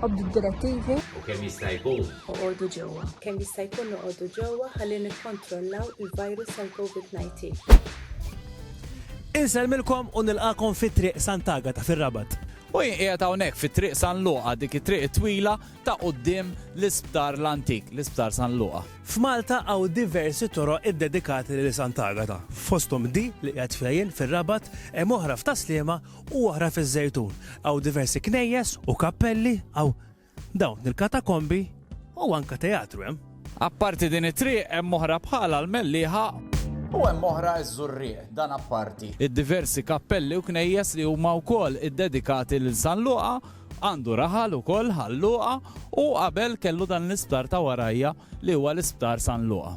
Obdu d-direttivi. U kemm jista' jkun. Oqogħdu ġewwa. Kemm jista' jkun noqogħdu ġewwa ħalli nikkontrollaw il-virus tal-COVID-19. Insellmilkom u nilqagħkom fi Triq Sant'Agata fir-Rabat. U jien qiegħed hawnhekk fi Triq San Luqa, dik it-triq it-twila ta' quddiem l-Isptar l-antik, l-Isptar San Luqa. F'Malta hawn diversi toroq iddedikati lil Sant'Agata. Fosthom di li qiegħed fiha jien fir-Rabat, hemm oħra f'Tas-Sliema u oħra fiż-Żejtun. Hawn diversi knejjes u kappelli, hawn dawn il-katakombi u anke teatru hemm. Apparti din it-triq hemm oħra bħalha l-Mellieħa. U hemm oħra ż-Żurrieq, dan apparti. Id-diversi kappelli u knejjes li huma wkoll iddedikati lil San Luqa Għandu raħal ukoll Ħal Luqa u qabel kellu dan l-isptar ta' warajja li huwa l-Isptar San Luqa.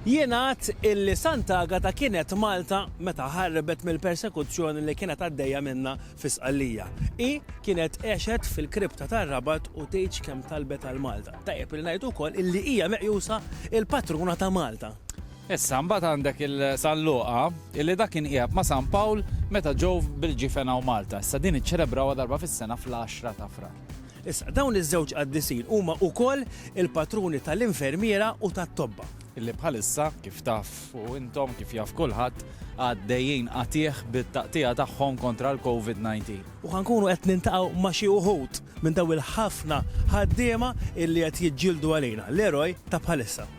Jingħad illi Sant'Agata kienet Malta meta ħarbet mill-persekuzzjoni li kienet għaddejja minnha fi Sqallija. Hi kienet għexet fil-kripta tar-Rabat u tgħidx kemm talbet għal Malta. Tajjeb li ngħidu wkoll illi hija meqjusa il-patruna ta' Malta. Issa, mbagħad għandek il-San Luqa, illi dak kien qiegħed ma' San Pawl meta ġew bil-ġifen hawn Malta. Issa din iċċelebrawha darba fis-sena fl-għaxra ta' Frar. Issa, dawn iż-żewġ qaddisin huma ukoll il-patruni tal-infermiera u tat-tobba. Illi bħalissa, kif tafu intom, kif jaf kulħadd, għaddejjin qatiegħ bit-taqtigħa tagħhom kontra l-Covid 19. U ħa nkunu qed niltaqgħu ma' xi wħud minn dawn il-ħafna ħaddiema illi qed jiġġieldu għalina, l-eroj ta' bħalissa.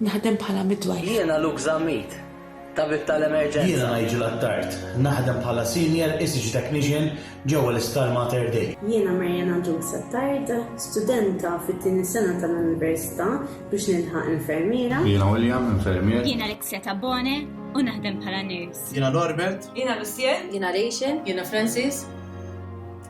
Naħdem bħala midwife. Jiena Luke Zammit, tabib tal-emerġenza. Jiena Nigel Attard, naħdem bħala senior ECG technician ġewwa l-Isptar Mater Dei. Jiena Mariana Jukes Attard, studenta fit-tieni sena tal-università biex nilħaq infermiera. Jiena William, infermier. Jiena Alexia Tabone u naħdem bħala nurse. Jiena Norbert. Jiena Lucien. Jiena Rachel. Jiena Francis.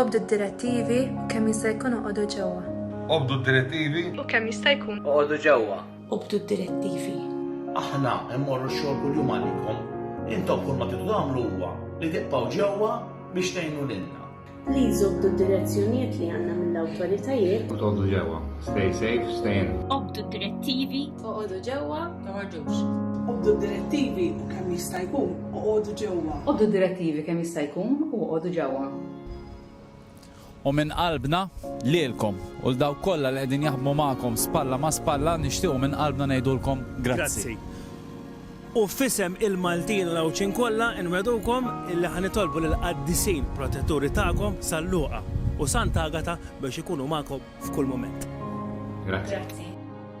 Obdu d-direttivi u kemm jista' jkun oqogħdu ġewwa. Obdu d-direttivi u kemm jista' jkun oqogħdu ġewwa. Obdu d-direttivi. Aħna mmorru x-xogħol kuljum għalikom. Intom kull ma tridu tagħmlu huwa li tibqgħu ġewwa biex tgħinu lilna. Please obdu d-direzzjonijiet li għandna mill-awtoritajiet. U tgħoddu ġewwa. Stay safe, stay in. Obdu d-direttivi. Oqogħdu ġewwa, toħorġux. Obdu d-direttivi u kemm jista' jkun oqogħdu ġewwa. Obdu d-direttivi kemm jista' jkun u oqogħdu ġewwa. U minn qalbna lilkom u l dawk kollha li qegħdin jaħdmu magħkom spalla ma' spalla nixtiequ minn qalbna ngħidulkom grazzi. U f'isem il-Maltin u l-Għawdxin kollha nwegħdukom illi ħa nitolbu lill-qaddisin protetturi tagħkom San Luqa u Sant'Agata biex ikunu magħkom f'kull mument. Grazzi.